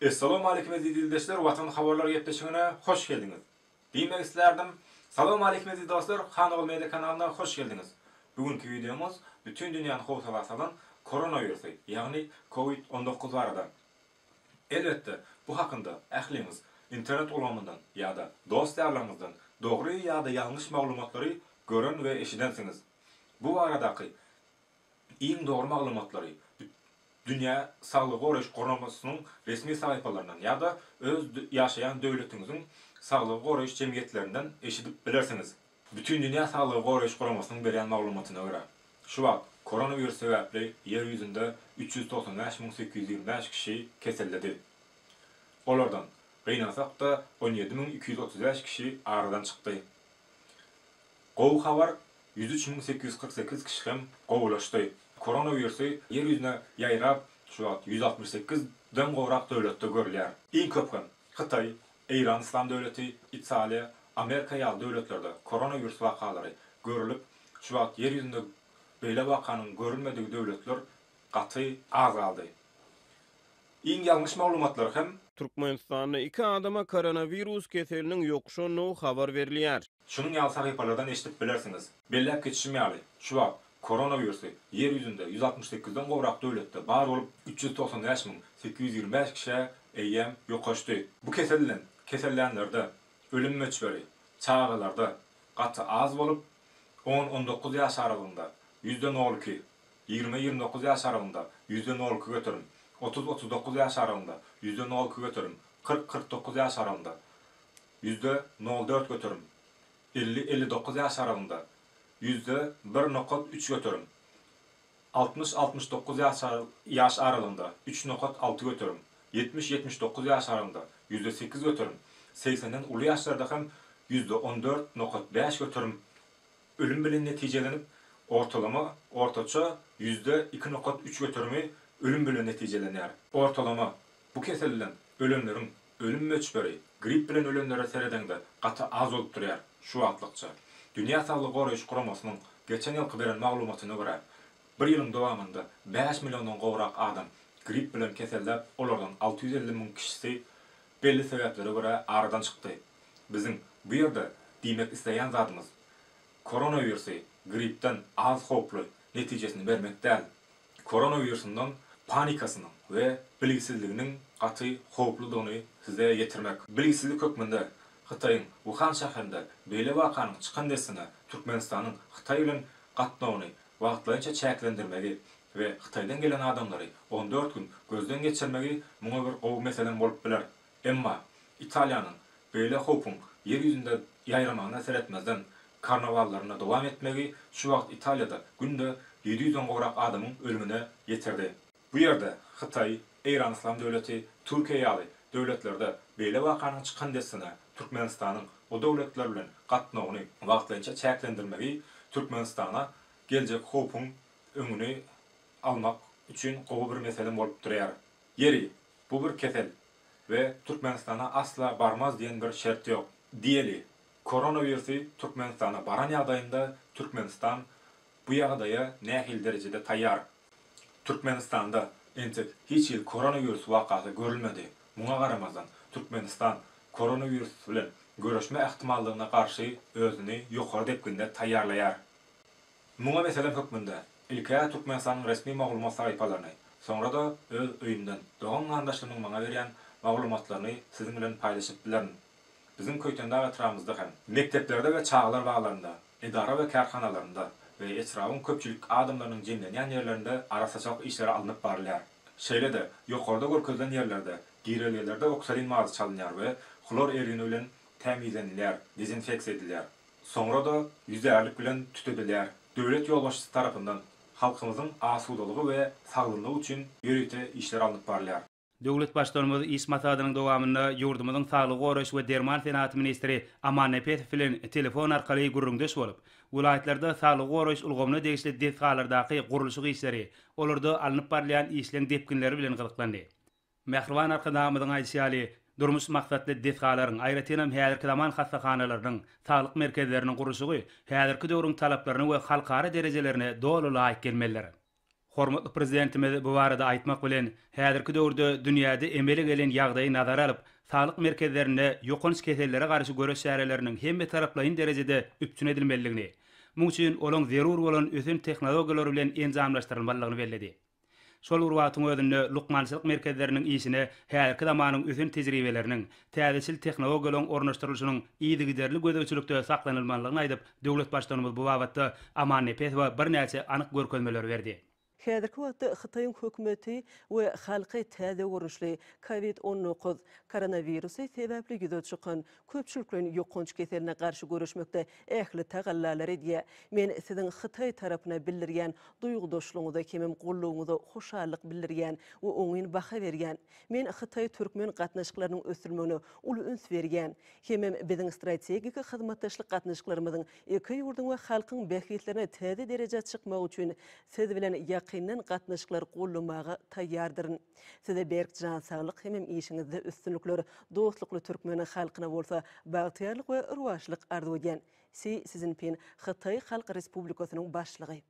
Essalawmaleýkim eziz ildeşler Watan habarlar gepleşigine hoş geldiňiz diýmek islärdim. Salawmaleýkim eziz dostlar Hanogul media kanalyna hoş geldiňiz Bu günki wideomyz bütin dünýäni howsala salan koronawirusy ýagny covid on dokuz barada Elbetde bu hakynda ähliňiz internet ulgamyndan ýa-da dost ýarlaryňyzdan dogry ýa-da ýalňyş maglumatlary gören we eşidensiňiz Bu baradaky Iň dogry maglumatlary Dünýä saglygy goraýyş guramasynyň resmi sahypalaryndan ýa-da öz ýaşaýan döwletiňiziň saglygy goraýyş jemgyýetlerinden eşidip bilersiňiz. Bütindünýä saglygy goraýyş guramasynyň berýän maglumatyna görä, şu wagt koronawirus sebäpli Ýer ýüzünde üç ýüz togsan bäş müň sekiz ýüz ýigrimi bäş kişi keselledi. Olardan, gynansak-da, on ýedi müň iki ýüz otuz bäş kişi aradan çykdy. Gowy habar, ýüz üç müň sekiz ýüz kyrk sekiz kişi hem gowulaşdy. Koronawirusy ýer ýüzüne ýaýrap, şu wagt ýüz altmyş sekiz den gowrak döwletde görülýär. Iň köp hem Hytaý, Eýran Yslam döwleti, Italiýa, Amerika ýaly döwletlerde koronawirus wakalary görülip, şu wagt ýer ýüzünde beýle wakanyň görülmedigi döwletler gaty azaldy. Iň ýalňyş maglumatlar hem. Türkmenistanda iki adama koronawirus keseliniň ýokuşandygy habar berilýär. Şunuň ýaly sahypalardan eşidip bilersiňiz. Belläp geçişim ýaly, şu wagt koronawirusy Ýer ýüzünde ýüz altmyş sekiz den gowrak döwletde bar bolup, üç ýüz togsan bäş müň sekiz ýüz ýigrimi bäş kişä eýýäm ýokaşdy. Bu kesel bilen kesellänlerde ölüm möçberi çagalarda gaty az bolup, on-on dokuz ýaş aralygynda ýüzde nol iki, ýigrime-ýigrimi dokuz ýaş aralygynda ýüzde nol iki göterim, otuz-otuz dokuz ýaş aralygynda ýüzde nol iki göterim, kyrk-kyrk dokuz ýaş aralygynda, Ýüzde nol dört göterim. Elli-elli dokuz ýaş aralygynda, ýüzde bir nokat üç göterim. Altmyş-altmyş dokuz ýaş ýaş aralygynda, üç nokat alty göterim. Ýetmiş-ýetmiş dokuz ýaş aralygynda, ýüzde sekiz göterim. Segsenden uly ýaşlarda hem ýüzde on dört nokat bäş göterim ölüm bilen netijelenip, ortalama, ortaça, ýüzde iki nokat üç göterimi ölüm bilen netijelenýär. Ortalama, bu keselden ölenleriň Ölüm möçberi, gripp bilen ölenlere seredeňde gaty az bolup durýar, şu wagtlykça. Dünýä saglygy goraýyş guramasynyň geçen ýylky beren maglumatyna görä, bir ýylyň dowamynda bäş milliondan gowrak adam gripp bilen keselläp, olardan alty ýüz elli müň kişisi belli sebäplere görä aradan çykdy. Biziň bu ýerde diýmek isleýän zadymyz, koronawirusy grippden az howply netijesini bermek däl, Koronawirusynyň panikasynyň we bilgisizliginiň gaty howpludygyny size ýetirmek. Bilgisizlik hökmünde Hytaýyň Wuhan şäherinde beýle wakanyň çykan dessine Türkmenistanyň Hytaý bilen gatnawyny wagtlaýynça çäklendirmegi we Hytaýdan gelen adamlary on dört gün gözden geçirmegi muňa bir gowy meselem bolup biler Emma Italiýanyň beýle howpuň ýer ýüzünde ýaýramagyna seretmezden, karnawallaryny dowam etmegi şu wagt Italiýada günde ýedi ýüzden gowrak adamyň ölümine ýetirdi. Bu ýerde Hytaý, Eýran Yslam Döwleti, Türkiýe ýaly döwletlerde beýle wakanyň çykan dessine Türkmenistanyň o döwletler bilen gatnawyny wagtlaýynça çäklendirmegi Türkmenistana geljek howpuň öňüni almak üçin gowy bir mesele bolup durýar. Ýeri, Bu bir kesel we Türkmenistana asla barmaz diýen bir şert ýok. Diýeli, koronawirusy Türkmenistana baran ýagdaýynda Türkmenistan bu ýagdaýa nähili derejede taýýar? Türkmenistanda entek hiç hili koronawirus wakasy görülmedi. Muňa garamazdan, Türkmenistan koronawirus bilen göreşme ähtimallygyna garşy özüni ýokary depginde taýýarlaýar. Muňa meselem hökmünde ilk-ä Türkmenistanyň resmi maglumat sahypalaryny, soňra-da öz öýümden, dogan-garyndaşlarymyň maňa berýän maglumatlaryny siziň bilen paýlaşyp bilerin. Biziň Köýtendag etrabymyzda hem. Mekdeplerde we çagalar baglarynda, edara we kärhanalarynda we etrabyň köpçülik adamlarynyň jemlenýän ýerlerinde arassaçylyk işleri alnyp barylýar. Şeýle-de, ýokarda görkezilen ýerlerde, girelgelerde oksolin mazy çalynýar we hlor ergini bilen tämizlenilýär, dezinfeksiýa edilýär. Soňra-da ýüzärlik bilen tütedilýär. Döwlet ýolbaşçysy tarapyndan halkymyzyň asudalygy we sagdynlygy üçin ýörite işler alnyp barylýar. Döwlet Baştutanymyz iş maslahatynyň dowamynda ýurdumyzyň saglygy goraýyş we derman senagaty ministri Aman Nepesow bilen telefon arkaly gürrüňdeş bolup, welaýatlarda saglygy goraýyş ulgamyna degişli desgalardaky gurluşyk işleri, olarda alnyp barylýan işleň depginleri bilen gyzyklandy. Mähriban Arkadagymyzyň aýdyşy ýaly, durmuş maksatly desgalaryň, aýratynam häzirki zaman hassahanalarynyň, saglyk merkezleriniň gurluşygy häzirki döwrüň talaplaryna we halkara derejelerine doly laýyk gelmelidir. Hormatly Prezidentimiz bu barada aýtmak bilen, häzirki döwürde dünýäde emele gelen ýagdaýy nazara alyp, saglyk merkezlerinde ýokanç kesellere garşy göreş çäreleriniň hemmetaraplaýyn derejede üpjün edilmelidigini, muň üçin olaň zerur bolan ösen tehnologiýalar bilen enjamlaşdyrylmalydygyny belledi. Şol bir wagtyň özünde lukmançylyk merkezleriniň işine häzirki zamanyň ösen tejribeleriniň, täzeçil tehnologiýalaryň ornaşdyrylyşynyň yzygiderli gözegçilikde saklanylmalydygyny aýdyp, döwlet Baştutanymyz bu babatda Aman Nepesowa birnäçe anyk görkezmeleri berdi. Häzirki wagtda Hytaýyň hökümeti we halky täze görnüşli covid on dokuz, koronawirusy, sebäpli ýüze çykan köpçülikleýin ýokanç keseline garşy göreşmekde ähli tagallalary edýär. Men Siziň Hytaý tarapyna bildirýän duýgudaşlygyňyza hemem goldawyňyza hoşallyk bildirýän we oňyn baha berýän. Men hytaý-türkmen gatnaşyklarynyň ösdürilmegine uly üns berýän. Hemem biziň strategik hyzmatdaşlyk gatnaşyklarymyzyň iki ýurduň we halkyň bähbitlerine täze derejä çykmagy üçin Siz bilen ýakyndan gatnaşyklary goldamaga taýýardyryn. Size berk jan saglyk hemem işiňizde üstünlikler, dostlukly türkmen halkyna bolsa bagtyýarlyk we rowaçlyk arzuw edýän. Si Szinpin, Hytaý Halk Respublikasynyň Başlygy.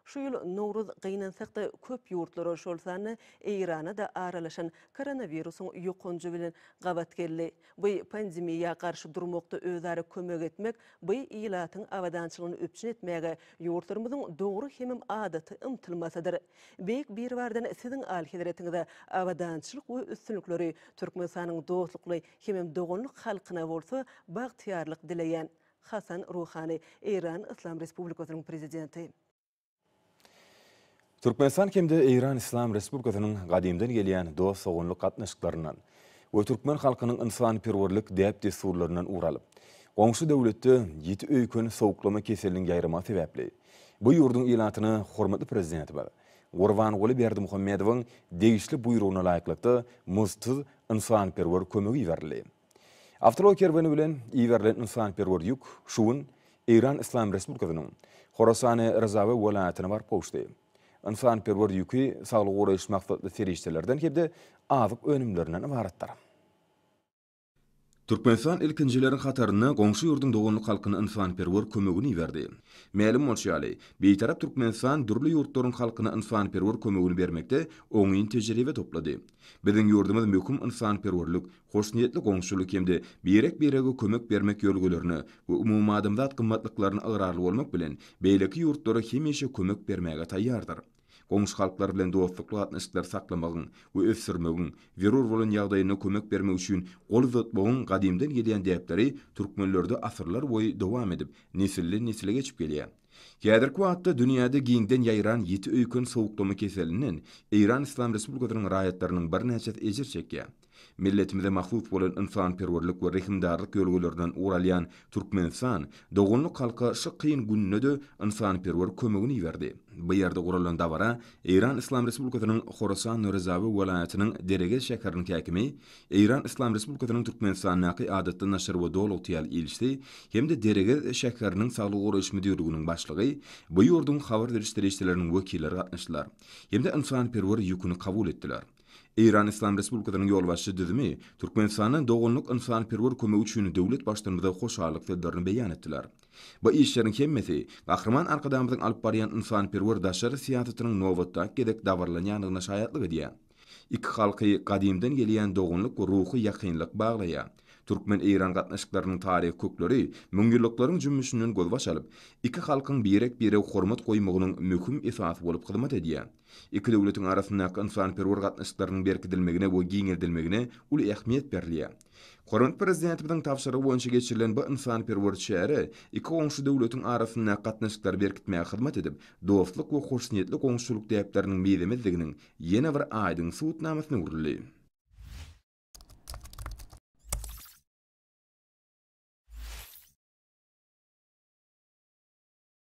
Şu ýyl Nowruz gynansak-da köp ýurtlara, şol sanda Eýrana-da aralaşan koronawirusyň ýokanjy bilen gabat geldi. Bu pandemiýa garşy durmakda özara kömek etmek, by ilatyň abadançylygyny üpjün etmäge ýurtlarymyzyň dogry hemem adaty ymtylmasydyr. Beýik Biribardan Siziň Alyhezretiňize abadançylyk we üstünlikleri, Türkmenistanyň dostlukly hemem doganlyk halkyna bolsa bagtyýarlyk dileýän. Hasan Ruhani, Eýran Yslam Respublikasynyň Prezidenti. Türkmenistan hem-de Eýran Yslam Respublikasynyň gadymdan gelýän dost-doganlyk gatnaşyklaryndan we türkmen halkynyň ynsanperwerlik däp-dessurlaryndan ugur alyp, goňşy döwletde ýiti öýken sowuklama keseliniň ýaýramagy sebäpli, Bu ýurduň ilatyna hormatly Prezidentimiz Gurbanguly Berdimuhamedowyň degişli buýrugyna laýyklykda muzdsuz ynsanperwer kömegi iberildi. Awtoulag kerweni bilen iberilen ynsanperwer ýük şu gün Eýran Yslam Respublikasynyň Horasany Rezawi welaýatyna baryp gowuşdy. Ynsanperwer ýüki saglygy goraýyş maksatly serişdelerden hem-de azyk önümlerinden ybaratdyr. Türkmenistan ilkinjileriň hataryna goňşy ýurduň doganlyk halkyna ynsanperwer kömegini iberdi. Mälim bolşy ýaly, Bitarap Türkmenistan dürli ýurtlaryň halkyna ynsanperwer kömegini bermekde oňyn tejribe toplady. Biziň ýurdumyz möhüm ynsanperwerlik, hoşniýetli goňşulyk hem-de birek-birege kömek bermek ýörelgelerine we umumadamzat gymmatlyklaryna ygrarly bolmak bilen, beýleki ýurtlara hemişe kömek bermäge taýýardyr. goňşy halklar bilen dostlukly gatnaşyklary saklamagyň we ösdürmegiň, zerur bolan ýagdaýynda kömek bermek üçin gol uzatmagyň gadymdan gelýän däpleri türkmenlerde asyrlarboýy dowam edip, nesilden-nesle geçip gelýär. Häzirki wagtda dünýäde giňden ýaýran ýiti öýken sowuklama keselinden Eýran Yslam Respublikasynyň raýatlarynyň birnäçesi ejir çekýär. Milletimize mahsus bolan ynsanperwerlik we rehimdarlyk ýörelgelerinden ugur alýan Türkmenistan doganlyk halka şu kyn günde-de ynsanperwer kömegini iberdi. Bu ýerde guralan dabara Eýran Yslam Respublikasynyň Horasan Rezawi welaýatynyň Deregez şäheriniň häkimi, Eýran Yslam Respublikasynyň Türkmenistandaky Adatda naşir we dolugtyýal ilçisi hem-de Deregez şäheriniň Saglygy goraýyş müdirliginiň başlygy, bu ýurduň habar beriş serişdeleriniň wekilleri gatnaşdylar hem-de ynsanperwer ýüküni kabul etdiler. Eýran Yslam Respublikasynyň ýolbaşçy düzümi Türkmenistana doganlyk ynsanperwer kömegi üçin döwlet Baştutanymyza hoşallyk sözlerini beýan etdiler. Bu işleriň hemmesi Gahryman Arkadagymyzyň alyp barýan ynsanperwer daşary syýasatynyň nobatdaky gezek dabaralanýandygyna şaýatlyk edýär. Iki halky gadymdan gelýän doganlyk we ruhy ýakynlyk baglaýar. Türkmen-eýran gatnaşyklarynyň taryhy kökleri müňýyllyklaryň jümmüşinden gözbaş alyp, iki halkyň birek-birege hormat goýmagynyň möhüm esasy bolup hyzmat edýär. Iki döwletiň arasyndaky ynsanperwer gatnaşyklarynyň berkidilmegine we giňeldilmegine uly ähmiýet berilýär. Hormatly Prezidentimiziň tabşyrygy boýunça geçirilen bu ynsanperwer çäre iki goňşy döwletiň arasyndaky gatnaşyklary berkitmäge hyzmat edip, dostluk we hoşniýetli goňşuçylyk däpleriniň mizemezdiginiň ýene bir aýdyň subutnamasyna öwrüldi.